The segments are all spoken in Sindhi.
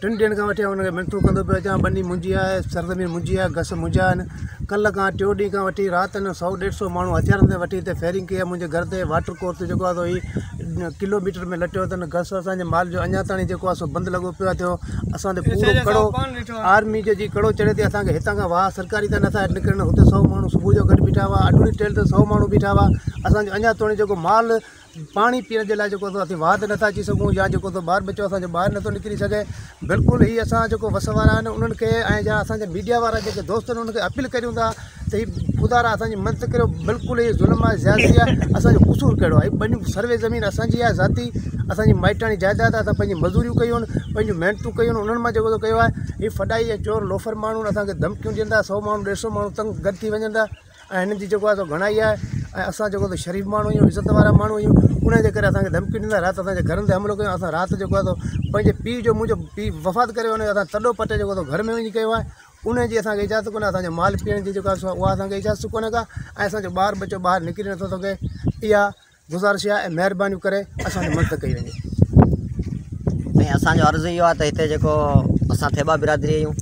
ٽن ڏينهن کان وٺي آئون هن کي منٿون ڪندو پيو اچان ٻني منهنجي آهي سرزمين منهنجي آهي گس منهنجا آهن ڪلهه کان ٽيون ڏينهن کان وٺي رات جو سؤ ڏيڍ سؤ ماڻهو هٿيارن تي وٺي هتي فيرنگ ڪئي آهي منهنجي گهر تي واٽر ڪورس جيڪو آهي سو هي ڪلو ميٽر ۾ لٽيو اٿن گس اسانجي مال جو اڃا تائين جيڪو آهي سو بند لڳو پيو آهي ٿيو اسان تي پورو ڪڙو آرمي جو جي ڪڙو چڙهي تي اسان کي هتان کان واهه سرڪاري تان نٿا نڪرن هتي سؤ ماڻهو صبح جو گڏ بيٺا هئا اڍوري ٽيل تي سؤ ماڻهو بيٺا هئا اسانجو اڃا توڻي جيڪو مال پاڻي پيئڻ جي لاء جيڪو سو اسين واهه تي نٿا اچي سگهون يا جيڪو سو ٻار ٻچو اسانجو ٻاهر نٿو نڪري سگهي بلڪل هي اسان جيڪو وس وارا آهن انهن کي ۽ جا اسانجا ميڊيا وارا جيڪي دوست آهن انهن کي اپيل ڪريون ٿا ته هي خدا را اسانجي مدد ڪريو بلڪل هي ظلم آهي زيادتي آهي اسانجو قصور ڪهڙو آهي ٻنيون سروي زمين اسانجي آهي ذاتي اسانجي مائٽاڻي جائداد آهي اسان پنهنجي مزوريون ڪيون آهن پنهنجون محنتون ڪيون آهن انهن مان جيڪو سو ڪيو آهي هي فڏائي ۽ چور لوفر ماڻهو آهن اسانکي ڌمڪيون ڏين ٿا سو ماڻهو ڏيڍ سو ماڻهو تنگ گڏ ٿي وڃن ٿا ۽ هنن جي جيڪو آهي سو گهڻائي آهي ۽ اسان جيڪو آهي سو شريف ماڻهو آهيون عزت وارا ماڻهو آهيون ان جي ڪري اسان کي ڌمڪي ڏيندا رات اسان جي گهرن تي حملو ڪيو اسان رات جيڪو آهي سو پنهنجي پيء جو منهنجو پيء وفات ڪري ويو اسان تڏو پٽي جيڪو آهي سو گهر ۾ وڃي ڪيو آهي ان جي اسان کي اجازت ڪونه اسان جو مال پيئڻ جي جيڪو آهي سو اها اسان کي اجازت ڪونه ڪا ۽ اسان جو ٻار ٻچو ٻاهر نڪري نٿو سگهي اها گذارش آهي ۽ مهرباني ڪري اسان جي مدد ڪئي وڃي. ۽ اسان جو عرض اهو آهي ته هتي جيڪو اسان ٿيٻا برادري آهيون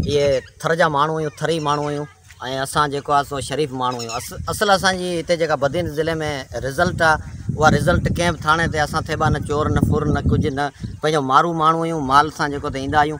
اهي ٿر جا ماڻهو آهيون ٿري ماڻهو آهيون ۽ اسان جيڪو آهي سو شريف ماڻهو آهيون اص اصل اسان جي هتي جيڪا بدين ضلعي ۾ رزلٽ آهي اها رزلٽ ڪنهن به ٿاڻي تي اسان ٿيٻا نه چور نه ڦر نه ڪجهه نه پنهنجو مارو ماڻهو آهيون مال سان جيڪو ته ايندا آهيون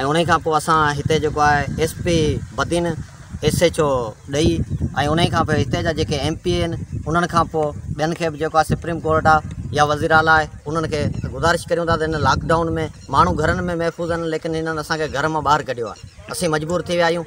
۽ انهي کان پوء اسان هتي جيڪو آهي S P Badin S H O ڏئي ۽ انهي کان پوء هتي جا جيڪي ايم پي اي آهن انهن کان پوء ٻين کي به جيڪو آهي سپريم ڪورٽ آهي يا وزير اعليٰ آهي انهن کي گذارش ڪريون ٿا ته هن لاڪ ڊائون ۾ ماڻهو گهرن ۾ محفوظ آهن ليڪن هنن اسان کي گهر مان ٻاهر ڪڍيو آهي اسين مجبور ٿي ويا آهيون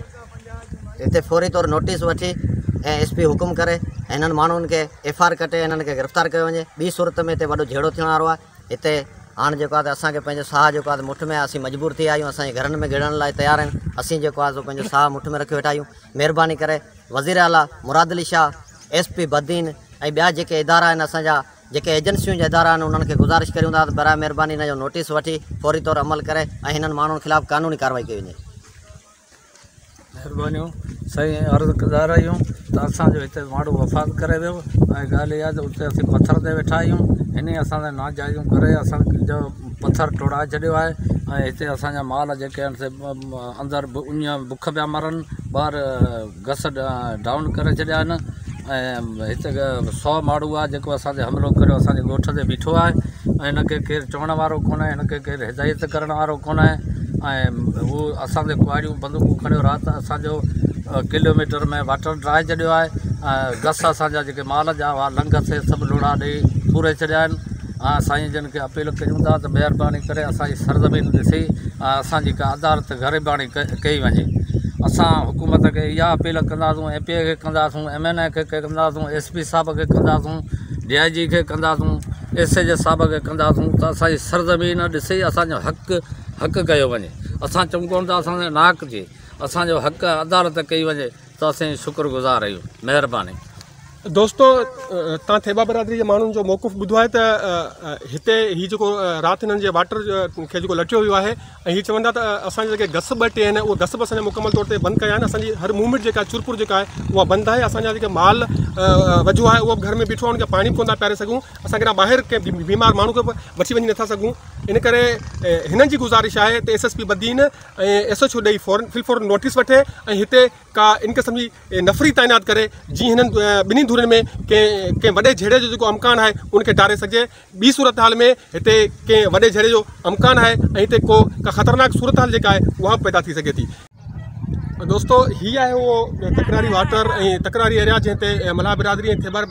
هتي فوري طور نوٽيس وٺي ۽ ايس پي حڪم ڪري هنن ماڻهن کي ايف آر ڪٽي هنن کي گرفتار ڪيو وڃي ٻي صورت ۾ هتي وڏو جهيڙو ٿيڻ وارو آهي هتي هاڻ جيڪو آهي ته اسان کي پنهنجو ساهه جيڪو آهي ته مٺ ۾ آهي اسين مجبور ٿي ويا آهيون اسان جي گهرن ۾ گهڙڻ لاء تيار آهيون اسين جيڪو آهي سو پنهنجو ساهه مٺ ۾ رکي ويٺا آهيون مهرباني ڪري وزير اعلٰي مراد علي شاهه ايس پي بدين ۽ ٻيا جيڪي ادارا آهن اسان جا جيڪي ايجنسيون جا ادارا آهن انهن کي گذارش ڪريون ٿا ته برائي مهرباني هن جو نوٽيس وٺي فوري طور عمل ڪري ۽ هنن ماڻهن خلاف قانوني ڪارروائي ڪئي وڃي مھربانيون سائين عرض گذار آھيون ته اسان جو ھتي ماڻھو وفات ڪري ويو ۽ ڳالھه اھا ته اتي اسين پٿر تي ويٺا آھيون انھي اسان سان ناجائزون ڪري اسان جو پٿر ٽوڙائي ڇڏيو آھي ۽ ھتي اسان جا مال جيڪي آھن سي اندر اڃ بک پيا مرن ٻاھر گس ڊائون ڪري ڇڏيا آهن ۽ هت سو ماڙهو آهي جيڪو اسان تي حملو ڪري اسانجي ڳوٺ تي بيٺو آهي ۽ هن کي ڪير چوڻ وارو ڪونهي هن کي ڪير هدايت ڪرڻ وارو ڪونهي ۽ هو اسان تي ڪهاڙيون بندوقون کڻيو رات اسانجو ڪلوميٽر ۾ واٽر ڊرائي ڇڏيو آهي ۽ گس اسانجا جيڪي مال جا هئا لنگ سي سڀ لوڙها ڏئي پوري ڇڏيا آهن آء سائين جن کي اپيل ڪريون ٿا ته مهرباني ڪري اسان جي سرزمين ڏسي آء اسان جي ڪا عدالت غريباڻي ڪئي وڃي اسان حڪومت کي اها اپيل ڪنداسون اين پي اي کي ڪنداسون ايم اين اي کي ڪنداسون ايس پي صاحب کي ڪنداسون ڊي آء جي کي ڪنداسون ايس ايچ او صاحب کي ڪنداسون ته اسان جي سرزمين ڏسي اسان جو حق حق ڪيو وڃي اسان چئون ڪون ٿا اسان جو ناحق ٿئي اسان جو حق عدالت ڪئي وڃي توهان سين شڪر گذار آهيون مهرباني. دوستو تان ٿيٻا برادري جي ماڻهن جو موقف ٻڌو آهي ته هتي هي جيڪو رات هنن جي واٽر کي جيڪو لٽيو ويو آهي ۽ هي چون ٿا ته اسان جا جيڪي گس ٻه ٽي آهن اهي گس به اسان جا مڪمل طور تي بند ڪيا آهن اسان جي هر موومينٽ جيڪا چرپر جيڪا آهي اها بند آهي اسان جا جيڪي مال وجهو آهي اهو به گهر ۾ بيٺو آهي ان کي پاڻي به ڪونه ٿا پياري سگهون اسان ڪيڏانهن ٻاهر ڪنهن بيمار ماڻهو کي به وٺي وڃي نٿا سگهون ان ڪري هنن جي گذارش آهي ته S S P Badin ۽ S H O ڏئي فورن في الفور نوٽيس وٺي ۽ هتي ڪا ان قسم جي نفري تعينات ڪري جي هنن ٻنهي ڌرين ۾ ڪنهن ڪنهن وڏي جهيڙي جو جيڪو امڪان آهي ان کي ٽاري سگهجي ٻي صورتحال ۾ هتي ڪنهن وڏي جهيڙي جو امڪان آهي ۽ هتي ڪو ڪا خطرناڪ صورتحال جيڪا آهي اها به پيدا ٿي سگهي ٿي دوستو هي آهي اهو تڪراري واٽر ۽ تڪراري ايريا جنهن تي ملاح برادري ۽ خيبر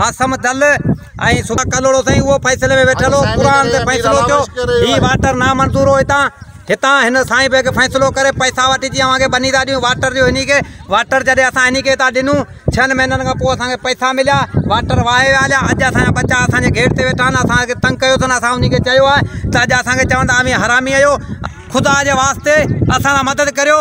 حاسم دل ۽ صوبا ڪلهوڙو سائين اهو فيصلي ۾ ويٺل هو قرآن تي فيصلو ٿيو هي واٽر نامنظور هو هتان هتان هن سائين بيگ فيصلو ڪري پئسا وٺي جي اوهان کي ٻني ٿا ڏيون واٽر ڏيو هني کي واٽر جڏهن اسان هني کي هتان ڏنو ڇهن مهينن کان پوء اسان کي پئسا مليا واٽر وهائي ويا هليا اڄ اسان ٻچا اسانجي گيٽ تي ويٺا آهن اسان کي تنگ ڪيو اٿن اسان هني کي چيو آهي ته اڄ اسان کي چون ٿا اوهين حرامي آهيو خدا جي واسطي اسان لاء مدد ڪريو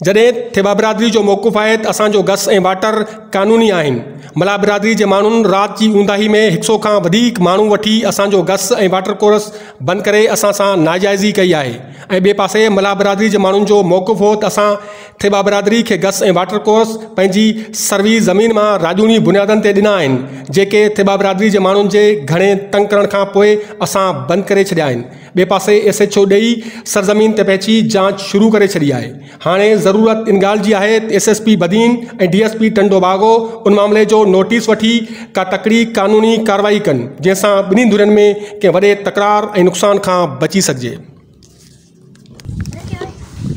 جڏهن ٿيٻا برادري جو موقف آهي ته اسان جو گس ۽ واٽر قانوني آهن. ملاح برادري جي ماڻهن رات جي اونداهي ۾ هڪ سئو کان وڌيڪ ماڻهو وٺي اسان جو گس ۽ واٽر ڪورس بند ڪري اسان سان ناجائزي ڪئي آهي ۽ ٻئي پاسي ملاح برادري جي ماڻهن جو موقف هو ته اسان ٿيٻا برادري کي گس ۽ واٽر ڪورس پنهنجي سروي زمين مان راڄوڻي بنيادن تي ڏنا آهن جيڪي ٿيٻا برادري جي ماڻهن جي گهڻي تنگ ڪرڻ کان پوء اسان بند ڪري ڇڏيا آهن. ٻئي پاسي ايس ايڇ او ڏيئي سرزمين تي پهچي جاچ شروع ڪري ڇڏي آهي، هاڻي ضرورت ان ڳالهه جي آهي ته S S P Badin ۽ D S P Tando Bago ان معاملي جو نوٽيس وٺي ڪا تڪڙي قانوني ڪارروائي ڪن جنهن سان ٻنهي ڌرين ۾ ڪنهن وڏي تڪرار ۽ نقصان کان بچي سگهجي.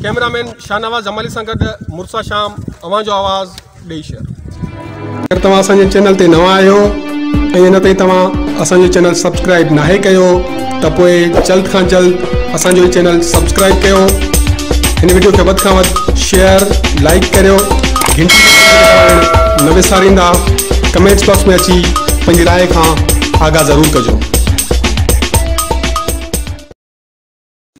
ڪئميرا مين شاهنواز جمالي سان گڏ مرسا شام اوهان جو آواز. ڏئي شيئر. اگر توهان اسان جي چينل تي نوان آهيو ۽ اڃا تائين توهان اسان جو چينل سبسڪرائب ناهي ڪيو ته پوء جلد کان جلد اسان جو هي چينل سبسڪرائب ڪيو هن وڊيو کي وڌ کان وڌ شيئر لائيڪ ڪريو گهنٽي جي بٽڻ دٻائڻ نه وساريندا ڪمينٽس باڪس ۾ اچي پنهنجي راء کان آگاهه ضرور ڪجو.